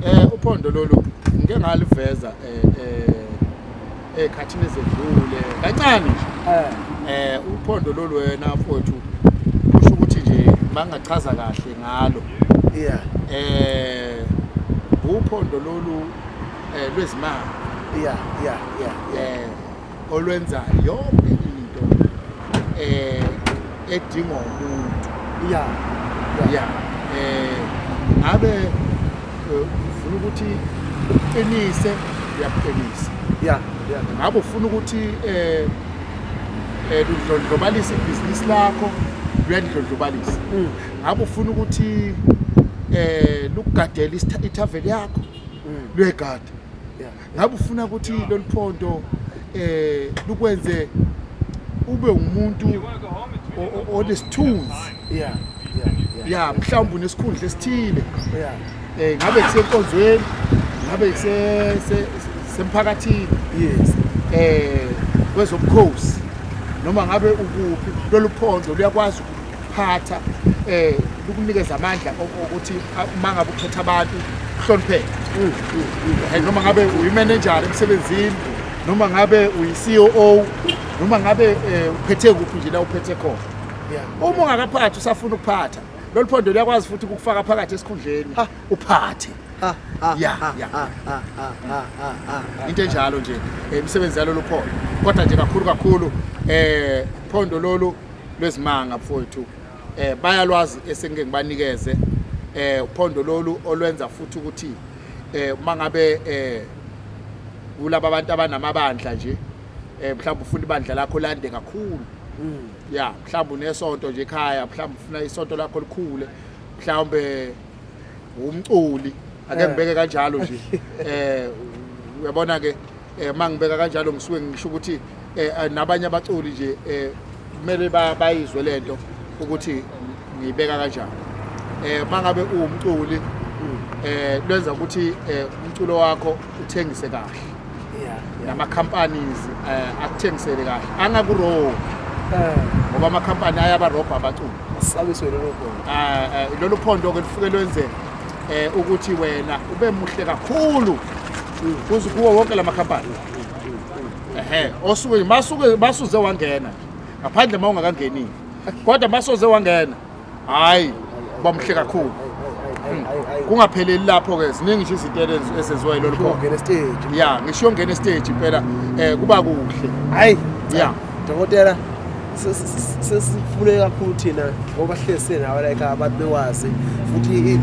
Eh uphondo lolu ngike ngaliveza eh eh ekhathini ezedlule kancane nje. Eh. eh uphondo lolu wena mfowethu kusho ukuthi nje mangachaza kahle ngalo. Yeah. Eh uphondo lolu eh lwezimali. Yeah, yeah, yeah. yeah. Eh olwenzayo yonke into eh edingwa umuntu ya ya eh ngabe eh, ufuna ukuthi uqinise uyakuqinisa ya ngabe ufuna ukuthi eh eh udlondlobalise ibhizinisi lakho uyalidlondlobalisa mm. ngabe ufuna ukuthi eh lukugadela ithaveli yakho mm. luyegada ngabe ufuna ukuthi lolu phondo eh lukwenze ube umuntu onesithunzi yeah yeah mhlawumbe unesikhundla esithile yeah eh ngabe kusenkonzweni ngabe kuse semphakathini yes eh kwezobukhosi noma ngabe ukuphi lolu phondo luyakwazi phatha eh ukunikeza amandla ukuthi mangabe ukhetha abantu uhlonipheke mm, mm, mm. eh, noma ngabe uyimanejari emsebenzini noma ngabe uyi-ceo noma ngabe um uphethe kuphi nje la uphethe khona uma ungakaphathi usafuna ukuphatha lolu phondo luyakwazi futhi ukukufaka phakathi esikhundleni uphathe ya into enjalo nje eh, imisebenzi yalolu phondo kodwa nje kakhulu kakhulu um phondo lolu lwezimanga mfowethu eh bayalwazi esengike ngibanikeze eh uphondo lolu olwenza futhi ukuthi eh uma ngabe eh kulabo abantu abanamabandla nje eh mhlawumbe ufuna ibandla lakho lande kakhulu mm. ya mhlawumbe unesonto nje ekhaya mhlawumbe ufuna isonto lakho likhule mhlawumbe umculi ake eh. ngibeke kanjalo nje eh uyabona ke eh mangibeka kanjalo ngisuke ngisho ukuthi eh, eh nabanye abaculi nje eh kumele bayizwe lento ukuthi ngiyibeka kanjani eh mangabe uwumculi eh lwenza ukuthi eh, umculo wakho uthengise kahle nama companies eh, akuthengisele kahle angaku wrong eh. ngoba ama company ayaba robha abaculi asabiswe lelo phondo eh lelo phondo ke lifike lwenze eh ukuthi wena ube muhle kakhulu kuze kuwo wonke la makhampani ehe osuke masuke masuze wangena ngaphandle uma ungakangenile kodwa masoze wangena hayi bamuhle kakhulu hmm. kungapheleli lapho-ke ziningi nje izinto ezenziwa yilolu khona stage ya ngisho yongena estage impela um kuba kuhle hayi ya dokotela sesifune kakhulu thina ngoba sihlezi senawo like abantu bewazi futhi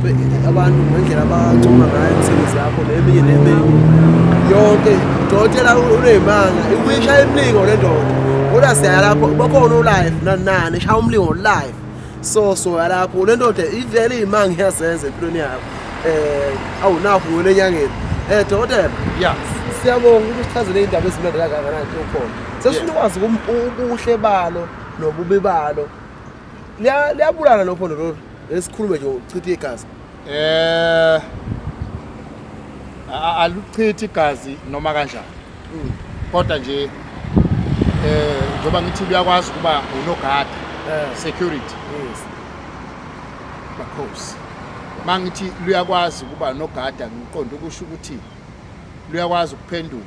abantu ngendlela abancuma ngayo imisebenzi yakho neminye neminye yonke dokotela uneyimanga ikuyisha imilingo le ndoda kodwa siyaya lapho bakhona ulive nanani shaya umlingo live so soya lapho le ndoda ivele iyimanga iyazenza empilweni yakho um eh, awunakho wena enyangeni um eh, dokotela ya siyabonga ukuthi usichazele iy'ndaba ezimnandi kangakanani okhona sesifuna ukwazi kum- ubuhle balo nobubi balo Liya- liyabulala lokho lolo esikhulume nje uchithe igazi Eh a- aluchithi igazi noma kanjani. Mm. Kodwa nje eh njengoba ngithi uyakwazi ukuba unogada Eh, security yes. makhosi. Mangithi luyakwazi ukuba nogada ngiqonda ukusho ukuthi luyakwazi ukuphendula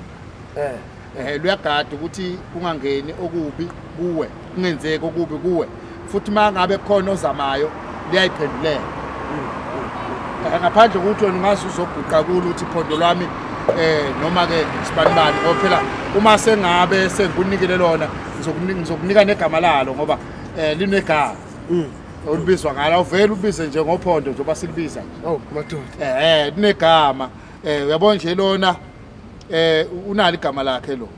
Eh. eh luyagada ukuthi kungangeni okubi kuwe kungenzeki okubi kuwe futhi mangabe khona ozamayo liyayiphendulela eh, ngaphandle ukuthi wena ungazi uzoguqa kulo ukuthi phondo lwami eh noma ke sibanibani ngoba phela uma sengabe sengikunikele lona ngizokunika negama lalo ngoba eh linegama mm. olubizwa ngalo uvele ubize nje ngophondo njengoba silibiza nje oh madoda eh, eh linegama eh uyabona nje lona eh unalo igama lakhe lo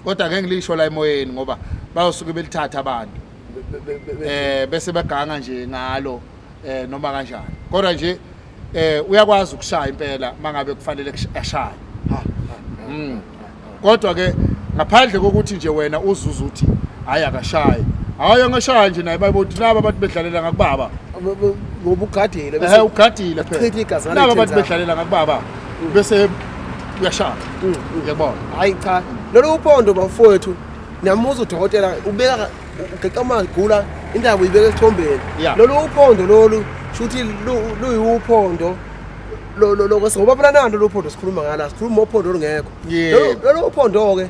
kodwa ngeke ngilisho la emoyeni ngoba bayosuke belithatha abantu eh bese baganga nje ngalo eh noma kanjani kodwa nje eh uyakwazi ukushaya impela mangabe kufanele ashaye mm. kodwa ke ngaphandle kokuthi nje wena uzuza uthi hayi akashaye hayi angashaya nje naye bayibothi laba abantu bedlalela ngakubaba ngoba ugadile bese ugadile phela laba abantu bedlalela ngakubaba bese uyashaya uyabona hayi cha lolu uphondo bafowethu namuza udokotela ubeka ugeqa amagula indaba uyibeka esithombeni Yeah. lolu uphondo lolu shuthi lu- luyiwuphondo lo- lo- lo- ngoba phela nalo lolu phondo sikhuluma ngala sikhuluma ophondo olungekho Yebo. Lolu- lolu uphondo-ke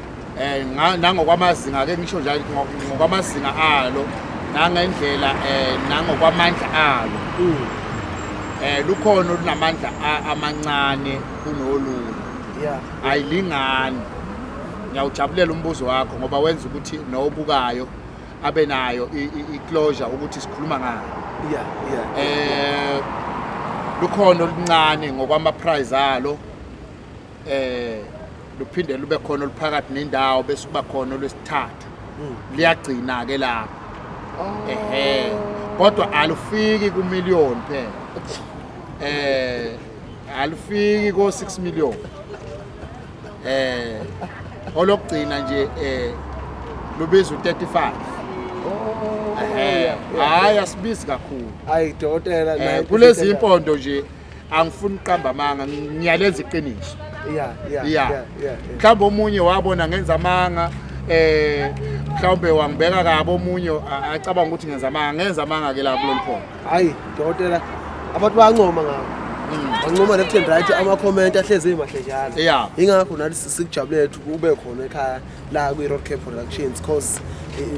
um nangokwamazinga ke ngisho njalo ngokwamazinga alo nangendlela um nangokwamandla alo um lukhona olunamandla amancane kunolunye ayilingani ngiyawujabulela umbuzo wakho ngoba wenza ukuthi nobukayo abe nayo i-closure ukuthi sikhuluma ngayo yeah yeah eh lukhona oluncane ngokwama prize alo eh luphinde lube khona oluphakathi nendawo bese kuba khona olwesithathu hmm. liyagcina ke lapho oh. ehe kodwa alufiki ku million phela eh alufiki ko 6 million eh olokugcina nje eh lubiza u35 oh, eh hayi asibizi kakhulu hayi dokotela eh, kulezi impondo nje angifuni uqamba amanga ngiyalenza iqiniso yeah yeah yeah mhlawumbe omunye wabona ngenza amanga eh mhlawumbe wangibeka kabi omunye acabanga ukuthi ngenza amanga ngenza amanga ke la kulolu phondo hayi dokotela abantu bayancoma ngabo hmm. bancoma left and right ama-comment ahlezi emahle njalo yeah. yingakho nathi sikujabule lethu kube khona ekhaya la kwi-road care productions cause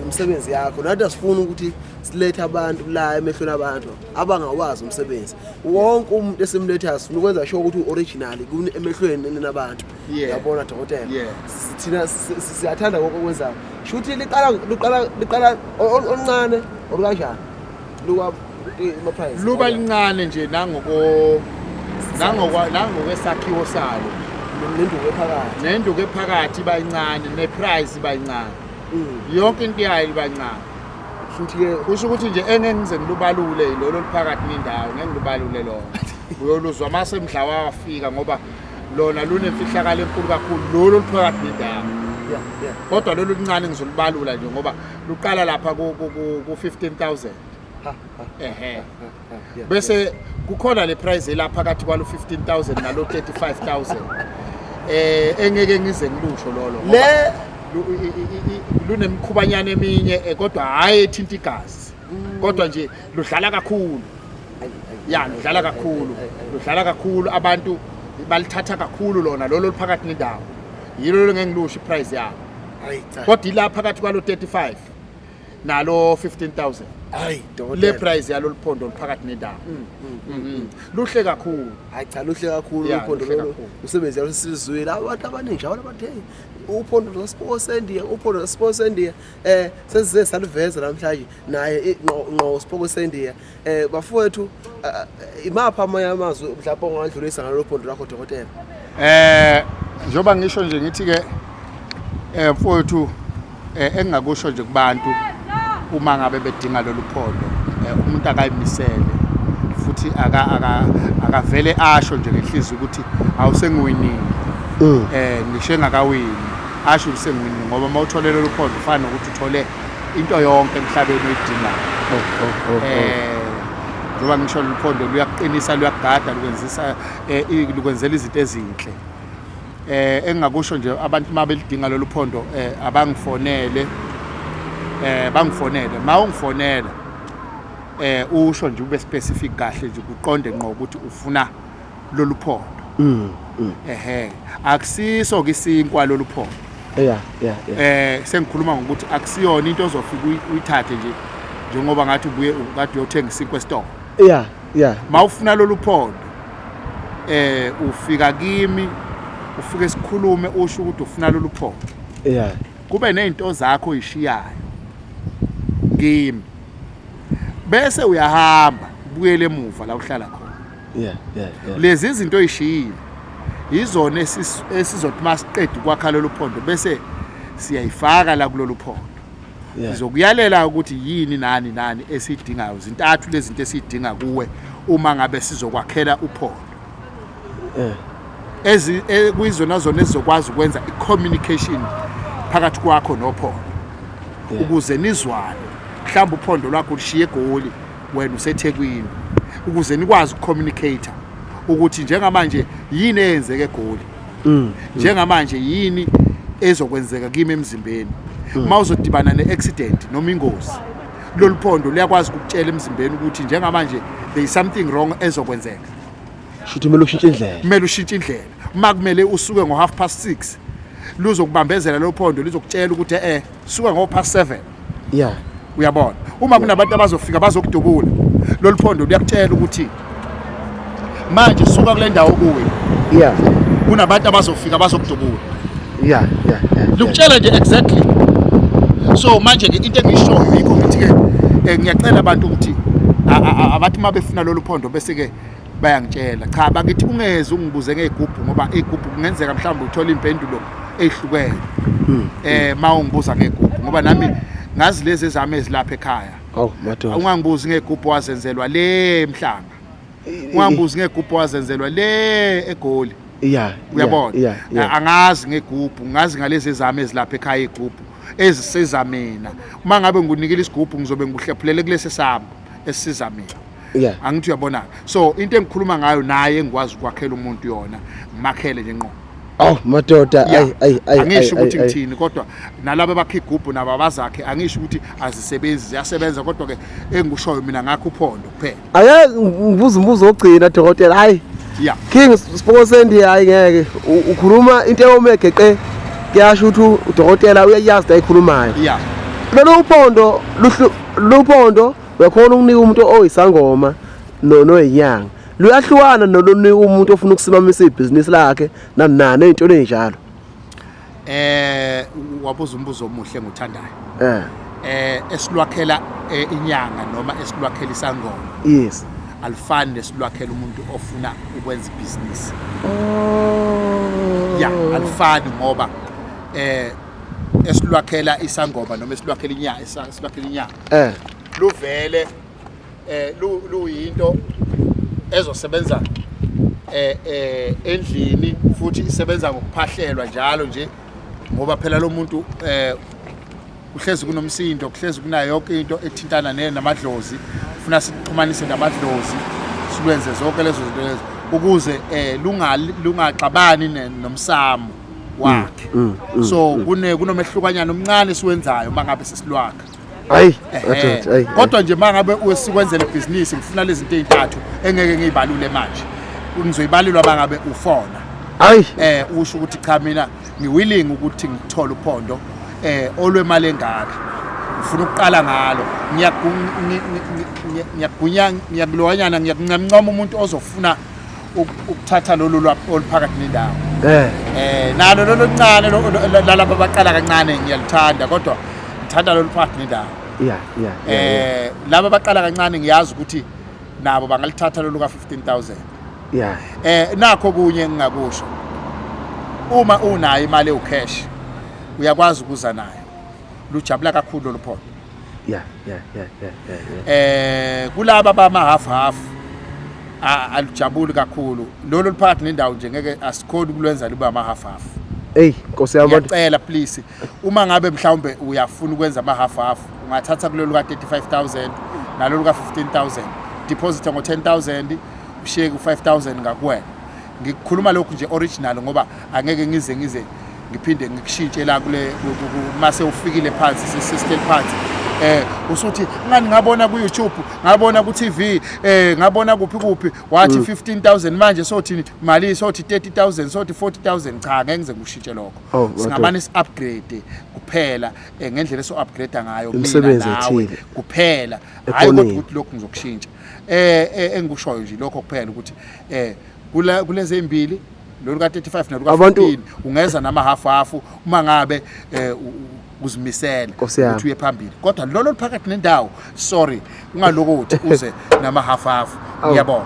imisebenzi yakho nathi asifuni ukuthi silethe abantu la emehlweni abantu abangawazi umsebenzi wonke umuntu esimlethayo sifuna ukwenza sho ukuthi u-original emehlweni enina abantu yabona dokotela thina siyathanda konke okwenzayo shuthi liqala oluncane or kanjani luba lincane nje nangokwesakhiwo salo nenduku ephakathi nenduku ephakathi iba yincane neprice iba yincane mm. yonke into yayo iba yincane futhi ke kusho ukuthi nje engeke ngize ngilubalule yilolo oluphakathi nendawo ngeke ngilubalule lona uyoluzwa uma semdla wafika ngoba lona lunemfihlakalo enkulu kakhulu lolu oluphakathi nendawo kodwa lolu luncane ngizolubalula nje ngoba luqala lapha ku-15 000 ehe ah, bese kukhona le prize elaphakathi kwalo 15000 nalo 35000 eh engeke ngize ngilusho lolo le lunemkhubanyana eminye eh, kodwa hayi ethinta igazi mm. kodwa nje ludlala kakhulu ya ludlala kakhulu ludlala kakhulu abantu balithatha kakhulu lona lolo liphakathi nendawo yilo ngeke ngilusho iprice yalo kodwa ila phakathi kwalo 35 nalo 15000 hayi le price yalo liphondo liphakathi nendawo mm, mm, mm, luhle kakhulu hayi cha luhle kakhulu liphondo lolu umsebenzi yalo sisizwile abantu abaningi njalo abathe uphondo lwaSports India uphondo lwaSports India eh sesize saliveza namhlanje naye inqo Sports India Eh bafowethu imapha amanye amazwi mhlawumbe ongadlulisa ngalolu phondo lwakho dokotela. Eh njoba ngisho nje ngithi ke eh mfowethu eh, engingakusho nje kubantu uma ngabe bedinga lolu phondo eh, umuntu akayimisele futhi aka aka akavele asho nje ngenhliziyo ukuthi awusengiwinile mm. eh ngisho engakawini asho ukuthi sengiwinile ngoba uma utholele lolu phondo ufana nokuthi uthole into yonke emhlabeni oyidingayo oh, oh, oh, oh. eh njengoba ngisho luphondo luyakuqinisa luyakugada lukwenzisa eh, lukwenzela izinto ezinhle eh engingakusho nje abantu uma belidinga lolu phondo eh abangifonele eh bangifonele ma ungifonela eh usho nje ube specific kahle nje kuqonde ngqo ukuthi ufuna lolu phondo mm, mm. ehe akusiso ke isinkwa lolu phondo yeah yeah yeah eh sengikhuluma ngokuthi akusiyona into ozofika uyithathe nje njengoba ngathi ubuye kade uyothenga isinkwa esitolo yeah yeah mawufuna lolu phondo eh ufika kimi ufike sikhulume usho ukuthi ufuna lolu phondo yeah kube nezinto zakho uyishiyayo kimi bese uyahamba ubuyele emuva la uhlala khona yeah, yeah, yeah. lezi zinto oyishiyile yizona esizothi masiqeda ukwakha lolu phondo bese siyayifaka la kulolu phondo ngizokuyalela ukuthi yini nani nani esidingayo zintathu lezi zinto esidinga kuwe uma ngabe sizokwakhela uphondo eh. ezi eh, kuyizona zona ezizokwazi ukwenza i-communication phakathi kwakho nophondo ukuze nizwane mhlawumbe uphondo lwakho lushiye egoli wena usethekwini ukuze nikwazi ukucommunicate ukuthi njengamanje yini eyenzeke egoli mm, mm. njengamanje yini ezokwenzeka kimi emzimbeni mm. uma uzodibana ne-accident noma ingozi lolu phondo luyakwazi ukutshela emzimbeni ukuthi njengamanje there is something wrong ezokwenzeka shuthi kumele ushintshe indlela kumele ushintshe indlela uma kumele usuke ngo-half past six luzokubambezela lolu phondo lizokutshela ukuthi e-e eh, suka ngo past 7 yeah uyabona uma kunabantu abazofika bazokudubula lolu phondo liyakutshela ukuthi manje suka kule ndawo kuwe yeah kunabantu abazofika bazokudubula yeah yeah yeah likutshela nje exactly so manje ke into engishoyo yikho ukuthi ke eh, ngiyacela abantu ukuthi abathi uma befuna lolu phondo bese ke bayangitshela cha bakithi ungeze ungibuze ngey'gubhu ngoba iy'gubhu kungenzeka mhlawumbe uthole iy'mpendulo ey'hlukene um ma ungibuza ngey'gubhu ngoba nami ngazi lezi ezami ezilapha ekhaya awu madoda ungangibuzi ngey'gubhu wazenzelwa le mhlanga ungangibuzi ngey'gubhu wazenzelwa le egoli ya uyabona ya ya A- angazi ngegubhu ngazi ngalezi ezami ezilapha ekhaya igubhu ezisiza mina uma ngabe ngikunikile isigubhu ngizobe ngikuhlephulele kulesi sami esiza mina yeah. angithi uyabona so into engikhuluma ngayo naye engikwazi ukwakhela umuntu yona ngimakhele nje nqo aw madoda ayi ayi ayi angisho ukuthi ngithini kodwa nalabo bakhe igubhu nabo abazakhe angisho ukuthi azisebenzi ziyasebenza kodwa ke engikushoyo mina ngakho uphondo kuphela aya ngibuza umbuzo ogcina dokotela hayi yeah king spokosendi hayi ngeke ukhuluma into eyomegeqe kuyasho ukuthi udokotela uyayazi ayikhulumayo yeah lolu uphondo luhlu Luphondo uyakhona ukunika umuntu oyisangoma noyinyanga luyahlukana nolonika umuntu ofuna ukusimamisa ibhizinisi lakhe nanani ey'ntweni ey'njalo eh wabuza umbuzo omuhle nguthandayo eh eh esilwakhela eh, inyanga noma esilwakhela isangoma yes alifani nesilwakhela umuntu ofuna ukwenza ibhizinisi oh ya alifani ngoba eh esilwakhela isangoma noma esilwakhela inyanga esilwakhela inyanga eh luvele eh luyinto ezosebenza eh eh endlini futhi isebenza ngokuphahlelwa njalo nje ngoba phela lo muntu eh kuhlezi kunomsindo kuhlezi kunayo yonke into ethintana ne namadlozi ufuna sixhumanise namadlozi silwenze zonke lezo zinto lezo ukuze eh lungaxabani nomsamo wakhe mm, mm, so mm. kune kunomehlukanyana omncane siwenzayo mangabe sesilwakha hayi hayi kodwa nje mangabe usikwenzele business ngifuna lezi zinto ezintathu engeke ngiyibalule manje ngizoyibalelwa mangabe ufona hayi eh usho ukuthi cha mina ngiwilling ukuthi ngithole uphondo eh olwemali engaka ngifuna ukuqala ngalo ngiyagunya ngiyakuloyana ngiyakuncamncoma umuntu ozofuna ukuthatha lolu lwapho oluphakathi nendawo eh eh nalo lolu ncane lalapha baqala kancane ngiyaluthanda kodwa ngithanda lolu phakathi nendawo yeah yeah eh laba baqala kancane ngiyazi ukuthi nabo bangalithatha lolu ka 15000 yeah eh nakho kunye engingakusho uma unayo imali ewucash uyakwazi ukuza nayo lujabula kakhulu lolu phondo yeah yeah yeah yeah yeah eh kulaba bama half half alijabuli kakhulu lolu liphakathi nendawo nje ngeke asikhoni kulwenza libe ama half half hey nkosi yami abantu ngiyacela please uma ngabe mhlawumbe uyafuna ukwenza ama half half ungathatha kulolu ka 35000 nalolu ka 15000 deposit ngo 10000 ushiye ku 5000 ngakuwena ngikhuluma lokhu nje original ngoba angeke ngize ngize ngiphinde ngikushintshe la kule mase ufikile phansi sisistel phansi eh usuthi ngani ngabona ku YouTube ngabona ku TV eh ngabona kuphi kuphi wathi 15000 mm. manje sothi mali sothi 30000 sothi 40000 cha ngeke ngize ngikushintshe lokho oh, singabani si upgrade kuphela eh, ngendlela so upgrade ngayo mina nawe kuphela hayi ukuthi lokhu ngizokushintsha eh, eh engikushoyo nje lokho kuphela ukuthi eh kula kulezi ezimbili lolu ka35 nalu ka14 ungeza nama half half uma ngabe eh uzimisele ukuthi uye phambili kodwa lolo liphakathi nendawo sorry ungalokothi uze nama half half ngiyabona